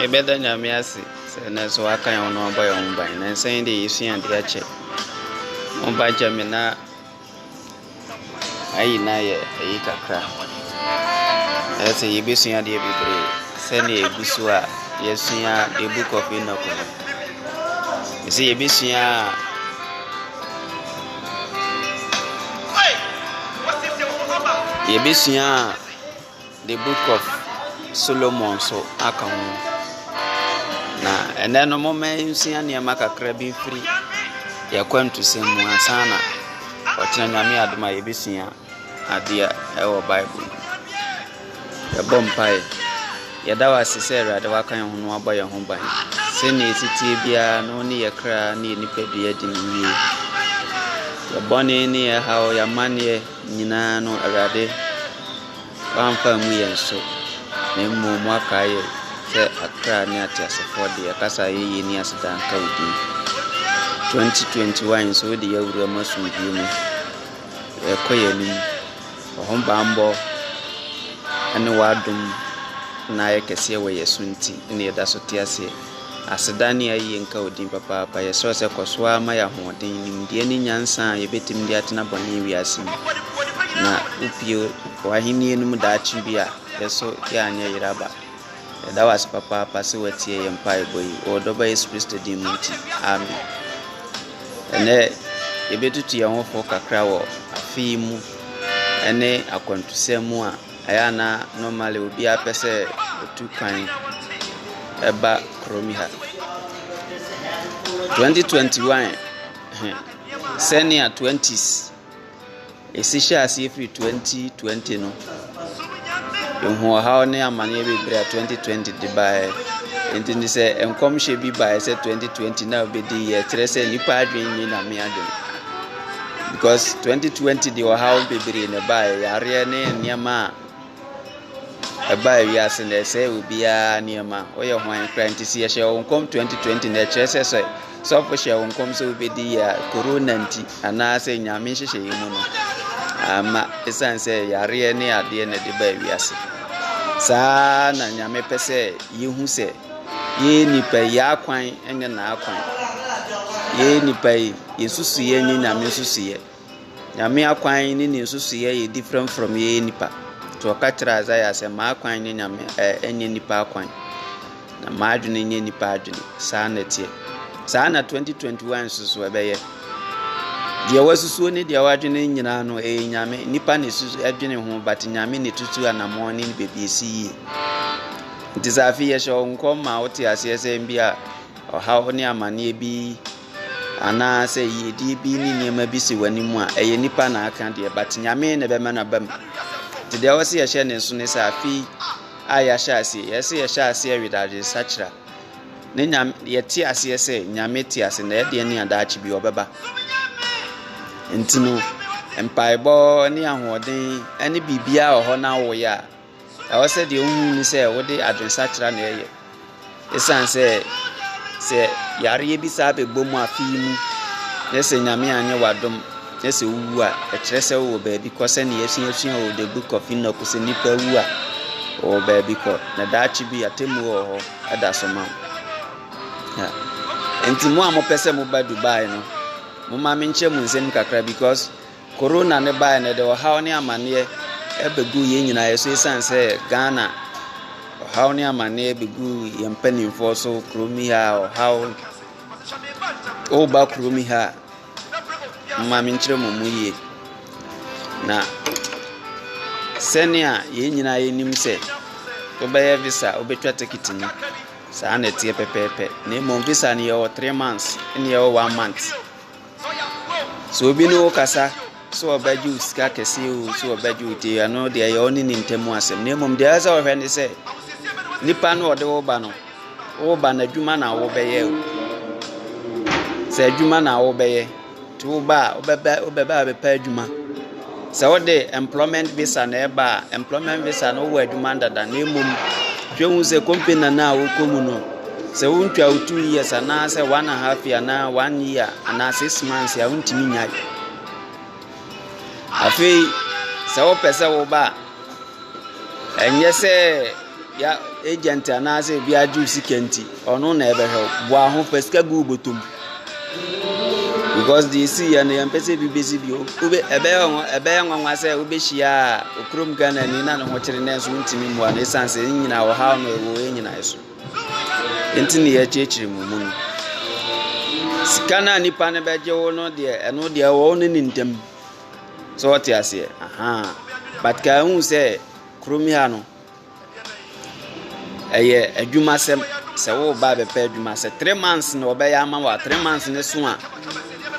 Yɛbɛda Nyame ase sɛ ɛnnɛ nso waka yɛn ho na wabɔ yɛn ho ban. Nansa yi deɛ yɛsua adeɛ akyɛ. Mo ba gya me na ayi na yɛ ayi kakra. Ɛsɛ yɛbɛsua adeɛ bebree sɛdeɛ ɛgu so a yɛsua the book of Enoch no. Ɛsɛ yɛbɛsua a yɛbɛsua a the book of Solomon so aka ho na ɛnɛ no moma nsua nneɛma kakra bi mfiri yɛkwantusɛm mu ansa na ɔkyena nyame adom a yɛbɛsua adeɛ wɔ Bible mu. Yɛbɔ mpaeɛ. Yɛda wo ase sɛ Awurade waka yɛn ho na wabɔ yɛn ho ban. Sɛnea ɛteteɛ biara na wo ne yɛ kra ne yɛ nipadua di no yie. Yɛ bɔne ne yɛ haw, yɛ amanneɛ nyinaa no Awurade wamfa mu yɛn so na mmom wakae yɛ sɛ akra ne ateasefoɔ de ɛkasa yɛyɛ ni aseda nka wo din. 2021 nso wode yɛ awura mu asomdwoe mu. yɛkɔ yɛn anim. Wɔn bammɔ ne w'adom na ayɛ kɛseɛ wɔ yɛn so nti na yɛda so te aseɛ. Aseda ne ayie nka wo din papaapa. Yɛsrɛ wo sɛ kɔ so ara ma yɛn ahoɔden, nimdeɛ ne nyansa a yɛbɛtumi de atena bɔne wiase mu. Na wopue w'ahennie no mu daakye bi a, yɛn nso yɛanyɛ yeraba. Yɛda wo ase papaapa sɛ woatie yɛn mpaebɔ yi. Wɔ Ɔdɔba Yesu Kristo din mu nti, amen. Ɛnɛ yɛbɛtutu yɛn ho fo kakra wɔ afe yi mu ne akwantusɛm mu a ɛyɛ ana normally obiara pɛ sɛ otu kwan ɛba kurom ha. 2021 sɛnea 20s Esi hyɛɛ aseɛ firi 2020 no, yɛhuu ɔhaw ne amaneɛ bebree a 2020 de baeɛ. Nti no sɛ nkɔmhyɛ bi baeɛ sɛ 2020 na wobɛdi yɛ kyerɛ sɛ nnipa adwene nyɛ nyame adwene. Because 2020 de ɔhaw bebree na ɛbaeɛ, yareɛ ne nneɛma a. Ɛbaa wiase na ɛsɛe obiara nneɛma. Woyɛ hwan kura nti sɛ yɛhyɛ wo nkɔm 2020 na ɛkyerɛ sɛ sɛ sɔfo hyɛ wo nkɔm sɛ wobɛdi yɛ a korona nti anaasɛ nyame nhyehyɛeɛ mu no ama ɛsiane sɛ yareɛ ne adeɛ na ɛde baa wiase. Saa na nyame pɛ sɛ yɛhu sɛ yɛn nipa yi akwan nyɛ n'akwan. Yɛn nipa yi yɛsusu yɛn nyɛ nyame nsusuiɛ. Nyame akwan ne ne nsusuiɛ yɛ different from yɛyɛ nipa. Nti ɔka kyerɛ Isaiah sɛ m'akwan nyɛ Nyame ɛnyɛ nipa akwan. Na m'adwene nyɛ nipa adwene. Saa na ɛteɛ. Saa na 2021 nso so ɛbɛyɛ. Deɛ wasusuo ne deɛ wadwene nyinaa no ɛyɛ Nyame. Nipa na ɛsusu ɛdwene ho but Nyame na ɛtutu anamɔn ne baabi ɛsi yie. Nti sɛ afei yɛhyɛ wo nkɔm ma wote aseɛ sɛ bi a ɔhaw ne amanneɛ bi Anaa sɛ yiedie bi ne nneɛma bi si w'anim a, ɛyɛ nipa na aka deɛ, but nyame na ɛbɛma no aba mu. Nti deɛ ɛwɔ sɛ yɛhyɛ ne nso ne sɛ afei a yɛahyɛ aseɛ, yɛ sɛ yɛhyɛ aseɛ wede adwensakyera ne nyame, yɛte aseɛ sɛ nyame te ase na ɛdeɛ ne adaakye bi ɔbɛba. Nti no, mpaebɔ ne ahoɔden ne biribiara wɔ hɔ na awoyɛ a, Ɛwɔ sɛ deɛ wohu ne sɛ wode adwensakyera na ɛyɛ. Ɛsiane sɛ sɛ yareɛ bi saa bɛbɔ mu afe yi mu na sɛ Nyame anyɛ w'adom na sɛ wowu a, ɛkyerɛ sɛ wowɔ baabi kɔ sɛnea yɛasuasua wɔ the book of Enoch sɛ nnipa wu a wɔwɔ baabi kɔ na daakye bi atemmuo wɔ hɔ ɛda so ma nti mo a mopɛ sɛ moba Dubai no moma menkyɛ mu nsɛm kakra because Corona no baeɛ no ɛde ɔhaw ne amaneɛ ɛbɛgu yɛn nyinaa so ɛsiane sɛ Ghana ɔhaw ne amaneɛ bɛgu yɛn mpanimfoɔ so kurom yi ha ɔhaw woba kurom yi ha mma menkyerɛ mu mu yie na sɛnea yɛn nyinaa yɛnim sɛ wobɛyɛ visa wobɛtwa ticket no saa na ɛteɛ pɛpɛɛpɛ na mmom visa no yɛwɔ three months ne yɛwɔ one month Sɛ obi ne wo kasa sɛ ɔbɛgye wo sika kɛse o sɛ ɔbɛgye wo te ɛno deɛ ɛyɛ ɔne ne ntam asɛm na mmom deɛ ɛsɛ ɔhwɛ ne sɛ nipa no ɔde wo ba no wo ba no adwuma na wobɛyɛ o sɛ adwuma na wobɛyɛ nti wo ba a wobɛba wobɛba abɛpɛ adwuma. Sɛ wode employment visa na ɛba a, employment visa no wowɔ adwuma dada na mmom hwɛ hu sɛ company no a wokɔ mu no sɛ wontwa wo two years anaasɛ one and half year anaa one year anaa six months a wontumi nyae afei sɛ wopɛ sɛ woba a Ɛnyɛ sɛ ya agent anaasɛ obi agye wo sika nti, ɔno na ɛbɛhwɛ wo. Boa ho, fa sika gu wo bɔtɔ mu. Because deɛ ɛsi yɛ no, yɛmpɛ sɛ ebi bɛsi bio. Wobɛ ɛbɛyɛ nwa ɛbɛyɛ nwanwa sɛ wobɛhyia okurom Ghanani na ne ho kyere nanso wontumi mmoa no ɛsiane sɛ ne nyinaa ɔhaw no ɛwɔ yɛn nyinaa so. Nti ne yɛkyerɛkyerɛ mu mu no. Sika no a nipa no bɛgye wo no deɛ, ɛno deɛ ɛwɔ wo ne ne ntam. So ɔte aseɛ? Ahaa. But kaa hu sɛ kurom ha no, ɛyɛ adwuma sɛm sɛ woba bɛpɛ adwuma sɛ three months na ɔbɛyɛ ama wa three months ne so a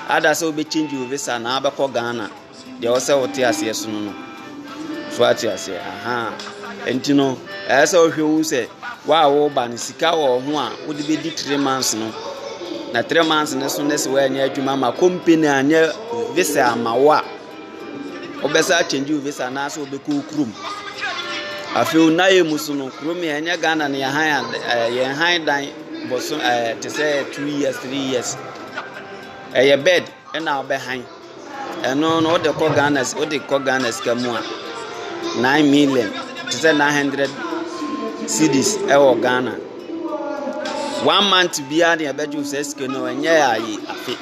ada sɛ wobɛkyingye wo visa na wabɛkɔ ghana deɛ ɔsɛ wote aseɛ so no no So wate aseɛ? Ahaa. Nti no, ɛyɛ sɛ wohwɛ hu sɛ wo a woba no sika wɔ ho a wode bɛdi three months no na three months no so ne sɛ woanyɛ adwuma ma company anyɛ visa ama wo a wobɛsa akyɛngye wo visa anaasɛ wobɛkɔ wo kurom afei wo nayɛ mu so no kurom yɛ ɛnyɛ ghana no yɛn han eh, yɛn han dan bɔso eh, te sɛ two years three years ɛyɛ bed Ɛna ɔbɛ han ɛno no wode kɔ Ghana wode kɔ Ghana sika mu a nine million te sɛ nine hundred cedis ɛwɔ Ghana one month biara ne ɛbɛgye sɛ sika no ɛnyɛ ayi afe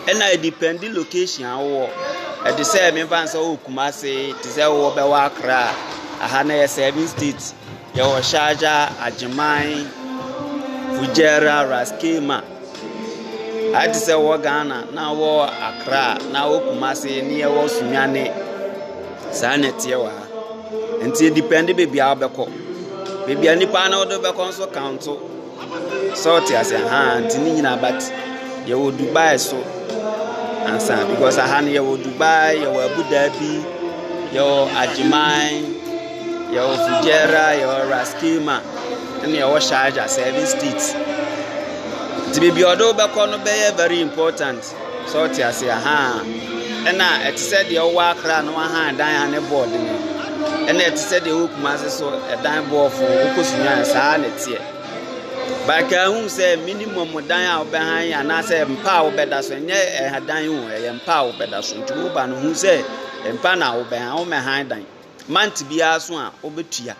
ɛna ɛdipɛndi location awɔ ɛde sɛ mefa sɛ wɔ Kumase te sɛ wɔ bɛwɔ Accra aha na yɛ seven states yɛwɔ Sharjah Agyeman Fujairah Raskema. Ayɛ te sɛ wɔ Ghana na wɔ Accra na wɔ Kumasi ne yɛwɔ Sunyani. Saa na ɛteɛ wɔ ha. Nti edepɛnde baabi a wobɛkɔ. Baabi a nipa no wode bɛkɔ nso kaonto. Sɛ wote aseɛ? Ahaa, nti ne nyinaa but yɛwɔ Dubai nso ansa because aha no yɛwɔ Dubai, yɛwɔ Abu Dhabi, yɛwɔ Agyeman, yɛwɔ Fujairah, yɛwɔ Ras Klima. Ɛna ɛwɔ Sharjah service state. Nti baabi a ɔde wobɛkɔ no bɛyɛ very important. So ɔte ase ahaa. Ɛna ɛte sɛ deɛ ɔwɔ akra no ahaa dan a ne board no. Ɛna ɛte sɛ deɛ ɔwɔ kumase so ɛdan boɔfo wokɔ sunyaan saa na ɛteɛ. Baka ahu sɛ minimum dan a wobɛhan anaasɛ mpa a wobɛda so ɛnyɛ ɛha dan o ɛyɛ mpa a wobɛda so nti woba no hu sɛ mpa na wobɛhan womɛhan dan. Month biara so a wobetua.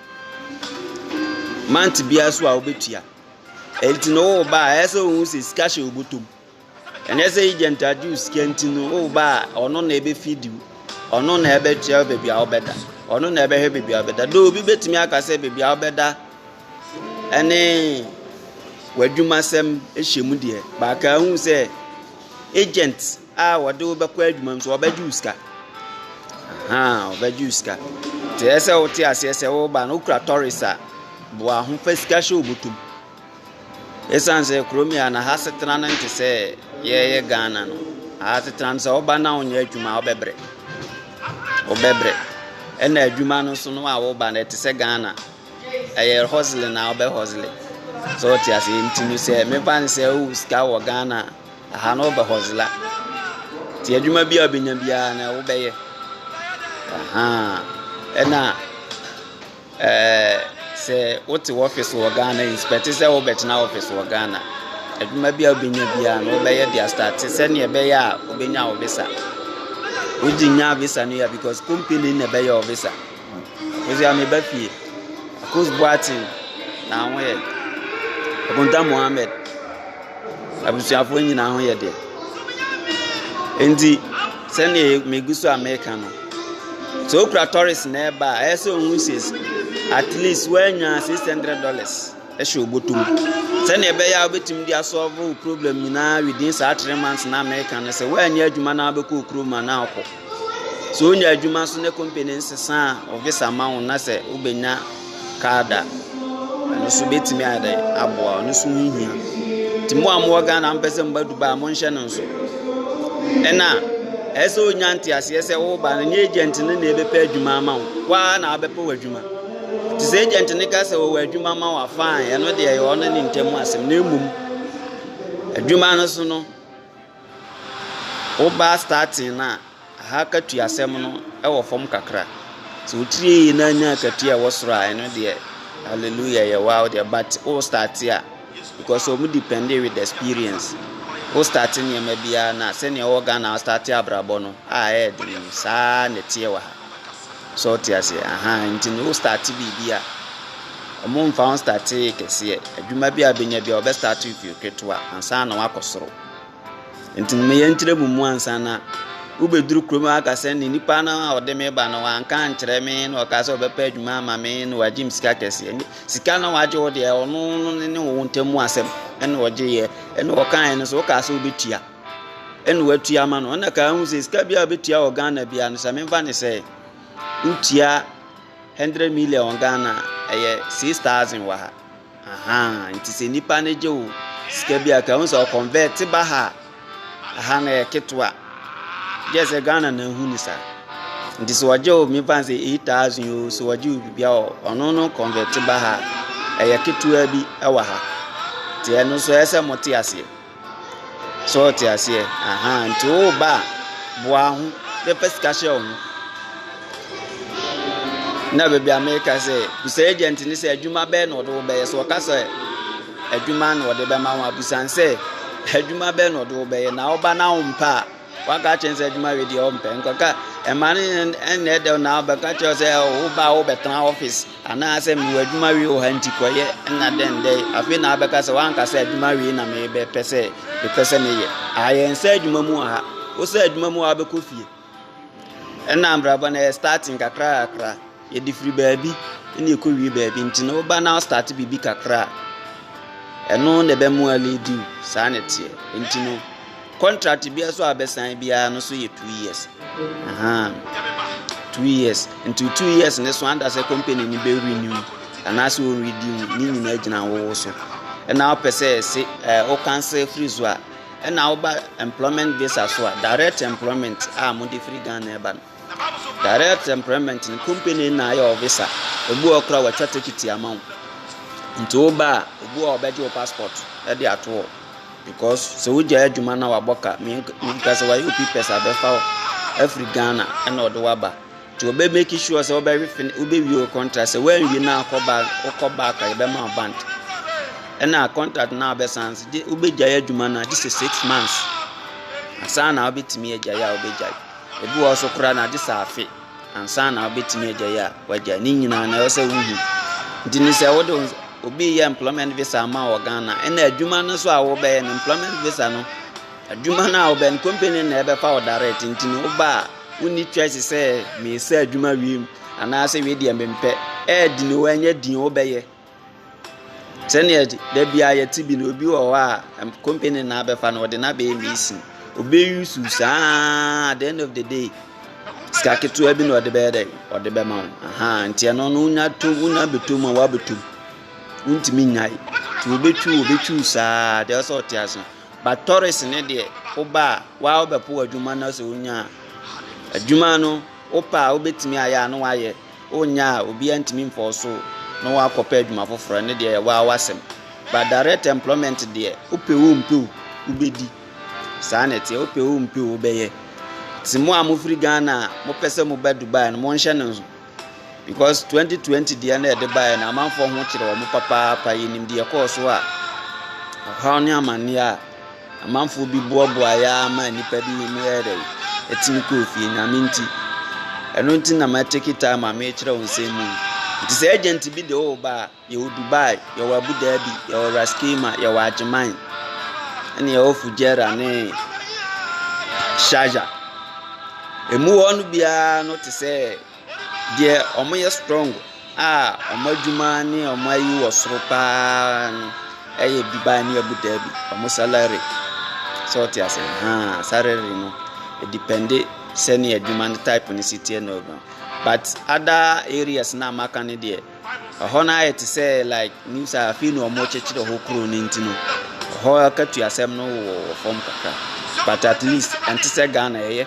Month biara so a wobetua. Enti no wo ba a ɛyɛ sɛ ohun sɛ sika hyɛ obotom. Ɛnyɛ sɛ agent agye wo sika nti no wo ba a ɔno na ebefi diw. Ɔno na ɛbɛkyerɛ baabi a wobɛda. Ɔno na ɛbɛhwɛ baabi a wobɛda. Do obi betumi aka sɛ baabi a wobɛda ɛne w'adwumasɛm hyɛ mu deɛ, baaka ahu sɛ agent a wɔde wo bɛkɔ adwuma mu so wɔbɛgye wo sika ahan wɔbɛgye wo sika te yɛ sɛ wote aseɛ sɛ woba no wokura tɔres a boa ho fa sika hyɛ obotom ɛsiane sɛ kurom yɛ na ha setena no nte sɛ yɛyɛ ghana no ha setena no sɛ woba na wonyɛ adwuma a wobɛbrɛ wobɛbrɛ ɛna adwuma no so no a woba no ɛte sɛ ghana ɛyɛ hosle na wobɛ hosle sɛ wote aseɛ nti no sɛ mefa no sɛ wowo sika wɔ ghana a Aha no ɔbɛ hɔzela. Nti adwuma bi a ɔbɛnya biara no wobɛyɛ. Aha. Ɛna ɛɛ sɛ wote wɔfis wɔ Ghana yi spɛte sɛ wobɛtena wɔfis wɔ Ghana. Adwuma bi a wobɛnya biara no wobɛyɛ de astate sɛnea ɛbɛyɛ a wobɛnya wo visa. Wogye nya visa no yɛ because company na ɛbɛyɛ wo visa. Mese a meba fie. Akoos Boateng na ho yɛ den. Akonta Mohammed. Abusuafoɔ nyinaa ho yɛ den. Nti sɛdeɛ megu so a meka no, sɛ wokura tɔres na ɛba a, ɛyɛ sɛ ohun says at least woanya six hundred dollars ɛhyɛ obotom. Sɛdeɛ ɛbɛyɛ a wobɛtumi de asɔlve wo problem nyinaa within saa three months na meka no sɛ woanyɛ adwuma na wobɛkɔ kurom a na akɔ. Sɛ onya adwuma so ne company nsesa a, wo visa ma wo na sɛ wobɛnya card a, ɛno nso bɛtumi ayɛ aboa ɔno nso ho hia. Nti mo a mowɔ Ghana a mpɛ sɛ mba Dubai a monhyɛ no nso. Ɛna ɛyɛ sɛ wonya nteaseɛ sɛ woba no nyɛ agent no na ɛbɛpɛ adwuma ama wo, woa na wobɛpɛ w'adwuma. Nti sɛ agent no ka sɛ wɔwɔ adwuma ma wo fine, ɛno deɛ ɛyɛ ɔno ne ntam asɛm na mmom adwuma no so no Woba starting no a, aha katuasɛm no wɔ fam kakra. Sɛ wotiri yie na anya akatua a ɛwɔ soro a, ɛno deɛ hallelujah ɛyɛ wo ara wo deɛ. But wo start a, because wɔn depend with experience. Wo start nneɛma biara no a, sɛdeɛ ɛwɔ Ghana a wo start abrabɔ no a ɛyɛ den no, saa ara na ɛteɛ wɔ ha. So wote aseɛ? Aha nti no wo start biribi a, wɔmfa wo start kɛseɛ. Adwuma bi a wobɛnya bi a, wɔbɛ start wo firi ketewa ansa na woakɔ soro. Enti no meyɛ nkyerɛmu mu ansa na wobɛduru kurom aka sɛ ne nipa no a ɔde me ba no wanka nkyerɛ me na ɔka sɛ ɔbɛpɛ adwuma ama me na wagye me sika kɛseɛ ne sika na wagye wo deɛ ɔno no ne ne wo ntam mu asɛm ɛna ɔgyeeɛ ɛna ɔkaeɛ no sɛ wokaa sɛ wobɛtua ɛna watua ma no ɔna kaa ho sɛ sika bi a wobɛtua wɔ ghana bia no sɛ memfa ne sɛ wotua 100 million ghana ɛyɛ 6000 wɔ ha Ahaa nti sɛ nipa no gye wo sika bi a ka ho sɛ ɔkɔnvɛt ba ha aha na yɛ ketewa gye sɛ ghana na ehu ne sa nti sɛ ɔgye wo mefa sɛ eight thousand o sɛ ɔgye wo bibia o ɔno no kɔnvɛt ba ha ɛyɛ ketewa bi ɛwɔ ha nti ɛno nso ɛsɛ mo te aseɛ. So ɔtse aseɛ? Ahaa, ntsi wo ba a, boa ho na fa sika hyɛ ho. Nna beebi a mereka sɛ, bisa agent no sɛ adwuma bɛn na ɔde wo bɛyɛ. Sɛ ɔka sɛ adwuma na ɔde bɛma wo a, bisa no sɛ adwuma bɛn na ɔde wo bɛyɛ. Na wo ba no a ɔmmpɛ a, waka akyerɛ no sɛ adwuma wei deɛ ɔmmpɛ. Nkɔka ɛma no nn ɛnna ɛdɛ na abɛka akyerɛ wo sɛ wo ba a wobɛtena office. Anaasɛ mewɔ adwuma wei wɔ ha nti kɔyɛ na dɛn dɛn afei na abɛka sɛ wanka sɛ adwuma wei na mebɛpɛ sɛ mepɛ sɛ meyɛ ayɛ nsɛ adwuma mu wɔ ha wosɛ adwuma mu wabɛkɔ fie ɛna mbrabɔ na yɛ starting kakra kakra yɛde firi baabi ɛna ɛkɔ wie baabi nti na woba na start biribi kakra ɛno na ɛbɛmoa lady saa na ɛteɛ nti no Contract biara so a bɛsan biara no so yɛ two years ahan two years nti two years ne so anda sɛ company ni bɛ renew anaasɛ o renew ne nyinaa gyina wɔwɔ so ɛna ɔpɛ sɛ ɛse ɛɛ o cancel firi so a ɛna ɔba employment visa so a direct employment a mo de firi Ghana ɛba no. Direct employment no company na ayɛ wo visa ebi wɔ kora wɔatwa tikiti ama wo nti wo ba a obi wɔ ɔbɛgye wo passport ɛde ato hɔ because sɛ wogya adwuma na wabɔ ka minka sɛ wayɛ opi pɛs abɛfa wo afiri ghana ɛna ɔde waba nti wɔbɛ make sure sɛ wobɛwe fin wobɛwie wo contract sɛ woanwie na akɔ back wokɔ back a yɛbɛma wo band ɛna contract na abɛsan so gye wobɛgyae adwuma no agye sɛ six months asan na wobɛtumi agyae a wobɛgyae Ebi wɔ hɔ nso koraa na agye sɛ afe ansa na wobɛtumi agyae a wagyae. Ne nyinaa na ɛwɔ sɛ wohu. Nti ne sɛ wode obi yɛ employment visa ama wɔ Ghana ɛna adwuma no so a wobɛyɛ no employment visa no adwuma no a wobɛn company na ɛbɛfa wo direct nti no woba a wonni choice sɛ meesɛ adwuma wiem anaasɛ wei deɛ mempɛ ɛɛdi ne wɔ ɛnyɛ din wobɛyɛ Sɛdeɛ da biara yɛte bi no, obi wɔ hɔ a ɛm company na abɛfa no ɔde no abɛyɛ mason. Obi use wo saa ara at the end of the day sika ketewa bi na ɔde bɛyɛ dɛ ɔde bɛma wo ahan nti ɛno no wonya to wonya bɛtɔ mu a woabɛtɔ mu wontumi nyae nti wobɛtwi wo wobɛtwi wo saa deɛ ɔsɛ ɔte ase but tɔres ne deɛ woba a waa wobɛpo adwuma no sɛ wonya adwuma no. Wopɛ a, wobɛtumi ayɛ a na woayɛ, wonnyɛ a, obiara ntumi mfa wo so na woakɔpɛ adwuma foforɔ, ɛno deɛ ɛyɛ wo ara w'asɛm. But direct employment deɛ, wopɛ o wompɛ o, wobɛdi. Saa na ɛteɛ, wopɛ o wompɛ o, wobɛyɛ. Nti mo a mofiri Ghana a mopɛ sɛ moba Dubai no, monhyɛ no nso. Because 2020 deɛ na ɛde baeɛ no, amanfoɔ ho kyerɛ wɔn papaapa, yɛnim deɛ ɛkɔɔ so a, ɔhaw ne amanneɛ a. Amanfoɔ bi boaboaeɛ ara maa nnipa bi mu yɛɛ dɛ, ɛtumi kɔɔ fie, Nyame nti. Ɛno nti na ma take time a merekyerɛ wo nsɛm mu yi. Nti sɛ agent bi de wo ba a, yɛwɔ Dubai, yɛwɔ Abu Dhabi, yɛwɔ Ras Kema, yɛwɔ Agyeman, ɛne yɛwɔ Fujairah ne Sharjah. Ɛmu hɔ no biara no te sɛ Deɛ wɔyɛ strong a wɔn adwuma ne wɔn ayi wɔ soro pa ara no yɛ Dubai ne Abu Dhabi, wɔn salary. So wote aseɛ? Ahaa, salary no, ɛdepɛnde sɛdeɛ adwuma no type no si teɛ na ɔdɔn. But other areas no a maka no deɛ, ɛhɔ no ayɛ te sɛ like nim sɛ afei na wɔrekyekyere hɔ kuro no nti no, ɛhɔ akatua asɛm no wɔ fam kakra. But at least ɛnte sɛ Ghana ɛyɛ.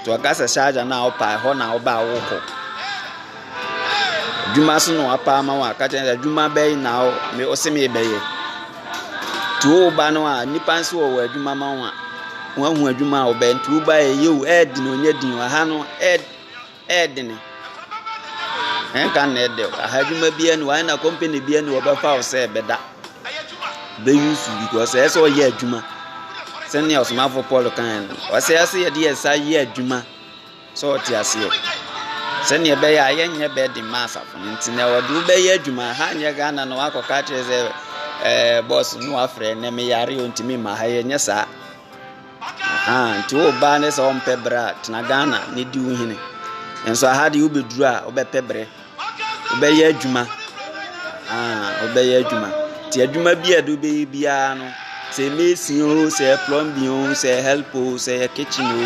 Nti ɔka sɛ sharja no a wopɛ a ɛhɔ na wobɛ a wokɔ adwuma so na wapɛ ama wo a ka kyerɛ sɛ adwuma bɛyi na ɔse mebɛyɛ nti woba no a nnipa nso wɔ wɔ adwuma ma wo a woahu adwuma a wobɛyɛ nti woba ɛyɛ o ɛyɛ den onyɛ den wɔ ha no ɛyɛ Ɛyɛ den. Ɛnka na ɛdɛ o. Aha adwuma bi ani wɔn na company bi ani wɔbɛfa wo sɛ ɛbɛda. Bɛyi su bi kɔ sɛ ɛsɛ ɔyɛ adwuma. Sɛnea ɔsomafo Paul kan no, ɔsɛ ɛsɛ yɛde yɛn nsa yɛ adwuma sɛ ɔte aseɛ. Sɛnea ɛbɛyɛ a yɛnyɛ bɛɛde ma asafo no nti na wɔde wobɛyɛ adwuma. Ha nyɛ Ghana na wakɔka akyerɛ sɛ ɛɛ bɔs no wafrɛ na meyare o ntumi ma ha yɛnyɛ saa. Ahaa nti wo baa ne sɛ ɔmpɛ berɛ a tena Ghana ne di wo hene nso aha deɛ wobɛduru a wobɛpɛ berɛ wobɛyɛ adwuma ahaa wobɛyɛ adwuma nti adwuma bi a ɛde wobɛyɛ biara no sɛ mesi o sɛ plumbing o sɛ help o sɛ kitchen o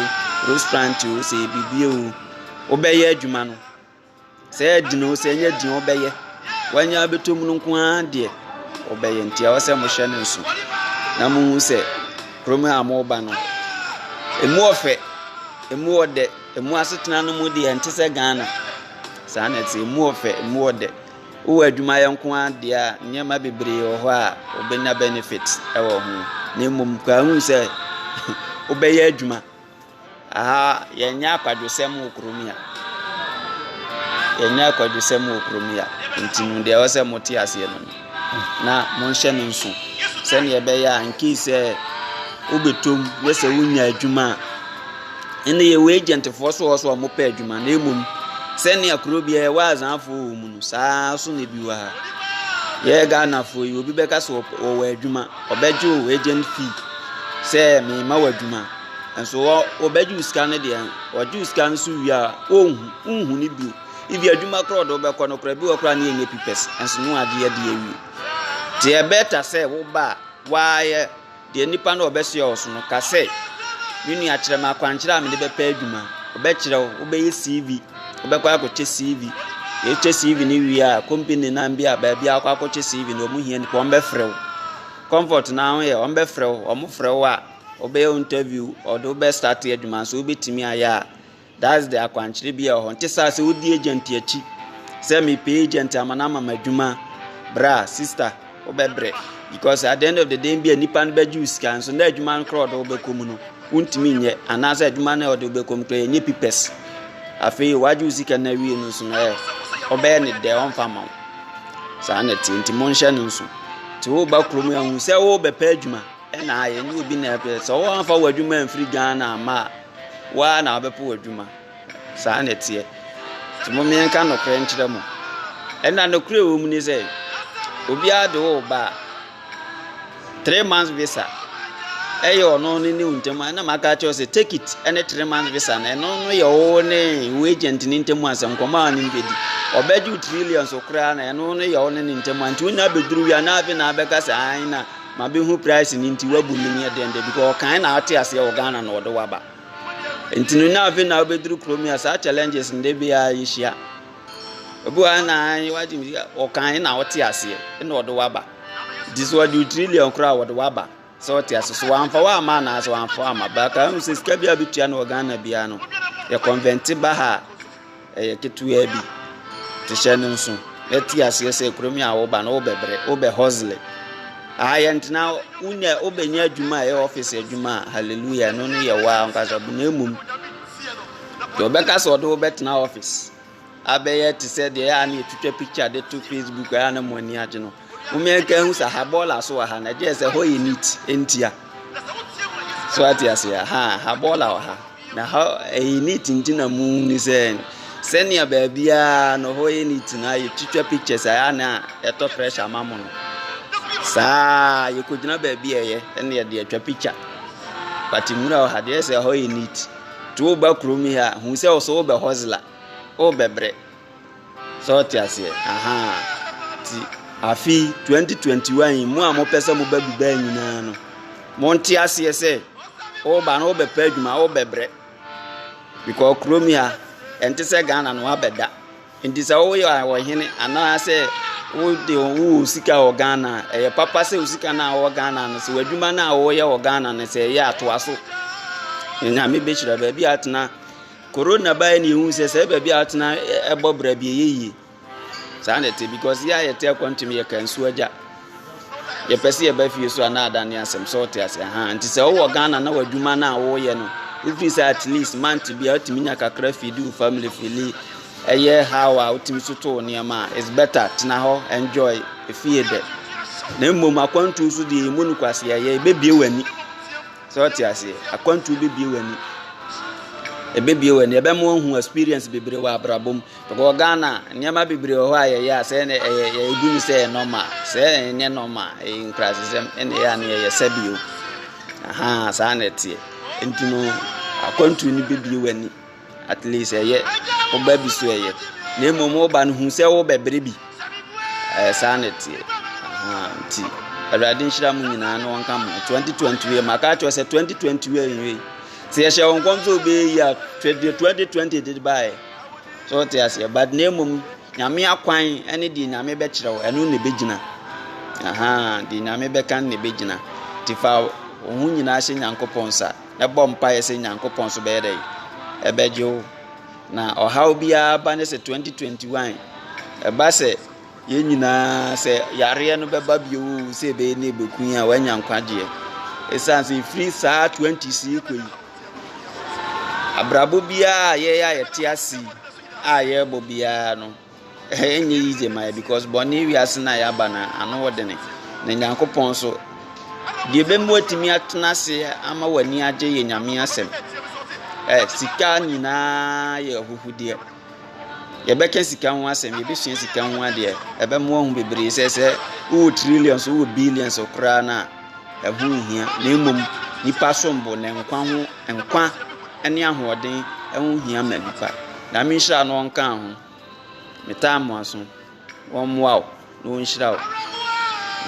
restaurant o sɛ biribi o wobɛyɛ adwuma no Sɛ ɛyɛ den o, sɛ ɛnyɛ den o, ɔbɛyɛ. Wanya abɛtɔ mu no nko ara deɛ, ɔbɛyɛ. Nti ɛwɔ sɛ mohyɛ no nso na mohu sɛ kurom a moba no, ɛmu ɔfɛ, ɛmu ɔdɛ, ɛmu asetena no mu deɛ ɛnte sɛ Ghana. Saa na ɛte, ɛmu ɔfɛ, ɛmu ɔdɛ. Wowɔ adwumayɛ nko ara deɛ a, nneɛma bebree wɔ hɔ a wobɛnya benefit wɔ ho. Na mmom, kora hu sɛ wobɛyɛ adwuma. Aha yɛnyɛ akwadwosɛm wɔ kurom yi a. Yɛnyɛ akwadwosɛm wɔ kurom yi a. Nti no deɛ ɛwɔ sɛ mote aseɛ no no. Na monhyɛ no nso sɛdeɛ ɛbɛyɛ a nkii sɛ wobɛtom ne sɛ wonya adwuma a ɛnna yɛwɔ agentfoɔ so wɔ so a wɔpɛ adwuma na mmom sɛnea kuro biara ɛwɔ azanfoɔ wɔ mu no saa so na ebi wɔ ha yɛyɛ ghanafoɔ yi obi bɛka sɛ wɔwɔ adwuma ɔbɛgye o agent fee sɛ mema wɔ adwuma. Nanso hɔ wɔbɛgye wo sika no deɛ, wɔgye wo sika no so wie a, wonhu wonhu no bio. Ebi adwuma koraa ɔde wobɛkɔ no koraa bi wɔ koraa ne ɛnyɛ pipɛs nanso ne wagye adi awie. Nti ɛbɛta sɛ woba a woayɛ deɛ nipa no a ɔbɛsoɛ wo so no ka sɛ me nua kyerɛ me akwankyerɛ a mede bɛpɛ adwuma. Ɔbɛkyerɛ wo, wobɛyɛ CV, wobɛkɔ akɔkyɛ CV. Yɛkyɛ CV no wie a, company nan bi a baabi a wokɔ akɔkyɛ CV no wɔn hia nipa wɔn bɛfrɛ wo. Comfort no ara ho yɛ wɔn bɛfrɛ wo, wɔn frɛ wo a Wɔbɛyɛ wo interview, wɔde wo bɛ start adwuma nso wobɛtumi ayɛ a that's the akwankyerɛ bi a ɛwɔ hɔ. Nte saa sɛ wodi agent akyi sɛ mepɛ agent ama no ama m'adwuma bra sister wobɛbrɛ because at the end of the day bi a nipa no bɛgye wo sika nso na adwuma no korɔ ɔde wobɛkɔ mu no wontumi nyɛ anaasɛ adwuma no ɔde wobɛkɔ mu korɔ yɛnyɛ pipɛs afei wagye wo sika no awie no so no ɛ ɔbɛyɛ ne dɛ ɔmfa ma wo saa na ɛte nti monhyɛ no nso nti woba kurom ahu sɛ wobɛpɛ adwuma Ɛna yɛnyɛ obi na ɛpɛ sɛ wɔamfa w'adwuma amfiri Ghana amma a waa na wabɛpɛ w'adwuma saa na ɛteɛ nti mo mmiɛnka nokorɛ nkyerɛ mo ɛna nokorɛ wɔ mu ne sɛ obiara de wo ba three months visa ɛyɛ ɔno ne ne ntam ɛna maka kyerɛ sɛ take it ɛne three months visa no ɛno no yɛ wo ne wo agent ne ntam asɛm nkɔmɔ a ne bɛdi ɔbɛgye trillions koraa na ɛno no yɛ wo ne ne ntam nti wonya bɛduru wia na afei na abɛka sɛ ae na Mabehu price no nti wabu me neɛ dɛn da bi kɔ ɔkan na ate aseɛ wɔ Ghana na ɔde waba nti no na afei na wobɛduru kurom yi a saa challenges no de biara yɛhyia obi wɔ na wagye me ɔkan na ɔte aseɛ na ɔde waba nti sɛ ɔde wo trillion koraa wɔde waba sɛ ɔte ase so wamfa wo ama anaa sɛ wamfa wo ama baka hu sɛ sika bi a bɛtua no wɔ Ghana biara no yɛ convente ba ha a Ɛyɛ ketewaa bi te hyɛ no nso na te aseɛ sɛ kurom yi a woba no wobɛbrɛ wobɛ hustle aha yɛ ntena wonya wobɛnya adwuma a ɛyɛ office adwuma a hallelujah ɛno no yɛ waa nkasa bu na mmom deɛ wobɛka sɛ ɔde wobɛtena office abɛyɛ te sɛ deɛ ɛyɛ a na ɛtwitwa picture de to facebook ɛyɛ a na mo ani agye no Momea nka ehu sa ha bɔɔla so wɔ ha na ɛgye sɛ hɔ yɛ neat ntia. So ate ase a ha ha bɔɔla wɔ ha na ha ɛyɛ neat nti na mu ni sɛ sɛnea baabiara no hɔ yɛ neat na yɛ twitwa pictures a na ɛtɔ pressure ma mo no. Saa yɛkɔgyina baabi a ɛyɛ ɛna yɛde atwa picture. But nwura wɔ ha deɛ sɛ hɔ yɛ neat. To wo ba kurom yi a hu sɛ ɔsɛ wobɛ hustler wobɛbrɛ. Sɛ wo te aseɛ ahaa ti. Afi twenty twenty one yi mu a mo pɛ sɛ mo ba Dubai nyinaa no mo nte aseɛ sɛ ɔba no ɔbɛ pɛ adwuma ɔbɛ brɛ because kurom yi a ɛnte sɛ Ghana no abɛ da nti sɛ ɔwɔ yɛ ɔhene anaasɛ wo de wo sika wɔ Ghana ɛyɛ papa sɛ wo sika no a ɔwɔ Ghana no sɛ w'adwuma no a ɔwɔ yɛ wɔ Ghana no sɛ ɛyɛ atoa so nyame bɛ hyira baabi atena. Corona baeɛ na yɛhu sɛ sɛ baabi a atena ɛbɔ bra bi ɛyɛ yie saa na ɛte because yɛ a yɛte akwantum yɛ ka nsuo agya yɛpɛ sɛ yɛba fie so a na ada ne asɛm sɛ ɔte ase ha nti sɛ wowɔ ghana na w'adwuma no a woyɛ no wofiri sɛ at least month bi a wotumi nya kakra fidi wo family fili ɛyɛ how a wotumi so to wo nneɛma a is better tena hɔ enjoy efie dɛ na mmom akwantuo so deɛ ɛmu no kwase ɛyɛ ɛbɛbie w'ani Sɛ wote aseɛ, akwantuo bɛbie w'ani. Ɛbɛbie w'ani, ɛbɛma woahu experience bebree wɔ abrabɔ mu. Because Ghana, nneɛma bebree wɔ hɔ a yɛyɛ a sɛ ɛnɛ ɛyɛ yɛgu no sɛ ɛyɛ normal. Sɛ ɛnyɛ normal, ɛyɛ nkurasesɛm, ɛna ɛyɛ a na yɛyɛ sɛbio. Ahaa, saa na ɛteɛ. Nti no, akwantuo no bɛbie w'ani. At least ɛyɛ wo ba bi so ɛyɛ na mmom wo ba no hu sɛ wo bɛbere bi ɛyɛ saa na ɛteɛ nti awurade nhyira mu nyinaa na wɔnka mu 2020 wie maka akyerɛ sɛ 2020 wie nwie sɛ yɛhyɛ wɔn nkɔm sɛ obɛyi a 2020 de baeɛ sɛ wote aseɛ but na mmom nyame akwan ɛne deɛ nyame bɛkyerɛ wo ɛno na ɛbɛgyina aha deɛ nyame bɛka na ɛbɛgyina nti fa wo ho nyinaa hyɛ nyankopɔn nsa na bɔ mpaeɛ sɛ Nyankopɔn so bɛyɛ dɛn? Ɛbɛgye wo. Na ɔhaw biara ba ne sɛ 2021 ɛba sɛ yɛn nyinaa sɛ yareɛ no bɛba bio sɛ ɛbɛyɛ ne ɛbɛku yɛn a wanya nkwagyeɛ. Ɛsiane sɛ ɛfiri saa 20 si kɔ yi abrabɔ biara a yɛyɛ a yɛte ase a yɛrebɔ biara no Ɛnyɛ yize ma yɛ because bɔne wiase no a yɛaba no ano wɔ dene. Na Nyankopɔn nso, deɛ ɛbɛmu atumi atena ase ama w'ani agye yɛ Nyame asɛm. Ɛ sika nyinaa yɛ ahuhudeɛ. Yɛbɛka sika ho asɛm, yɛbɛsua sika ho adeɛ. Ɛbɛmoa ho bebree sɛ sɛ wowɔ trillions, wowɔ billions koraa no a, ɛho nhia, na mmom nipa som bo na nkwa ho nkwa ne ahoɔden ɛho hia ma nipa. Nyame nhyira na ɔnka ho. Metaa mo aso. Wɔmmoa wo na wɔnhyira wo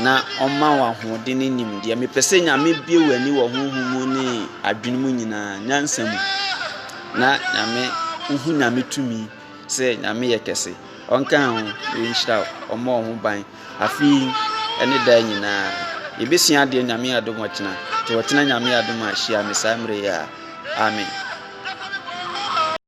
na ɔma wo ahoɔden ne nimdeɛ. Mepɛ sɛ Nyame bie w'ani wɔ honhom mu ne adwene mu nyinaa, nyansa mu na Nyame wohu Nyame tumi. sɛ Nyame yɛ kɛse, ɔnkaa ho, na ɔnhyira wo, ɔmmɔ wo ho ban, afe yi ne daa nyinaa. Yɛbɛsua adeɛ Nyame adom ɔkyena, nti ɔkyena Nyame adom a hyia me saa mmerɛ yi a. Amen.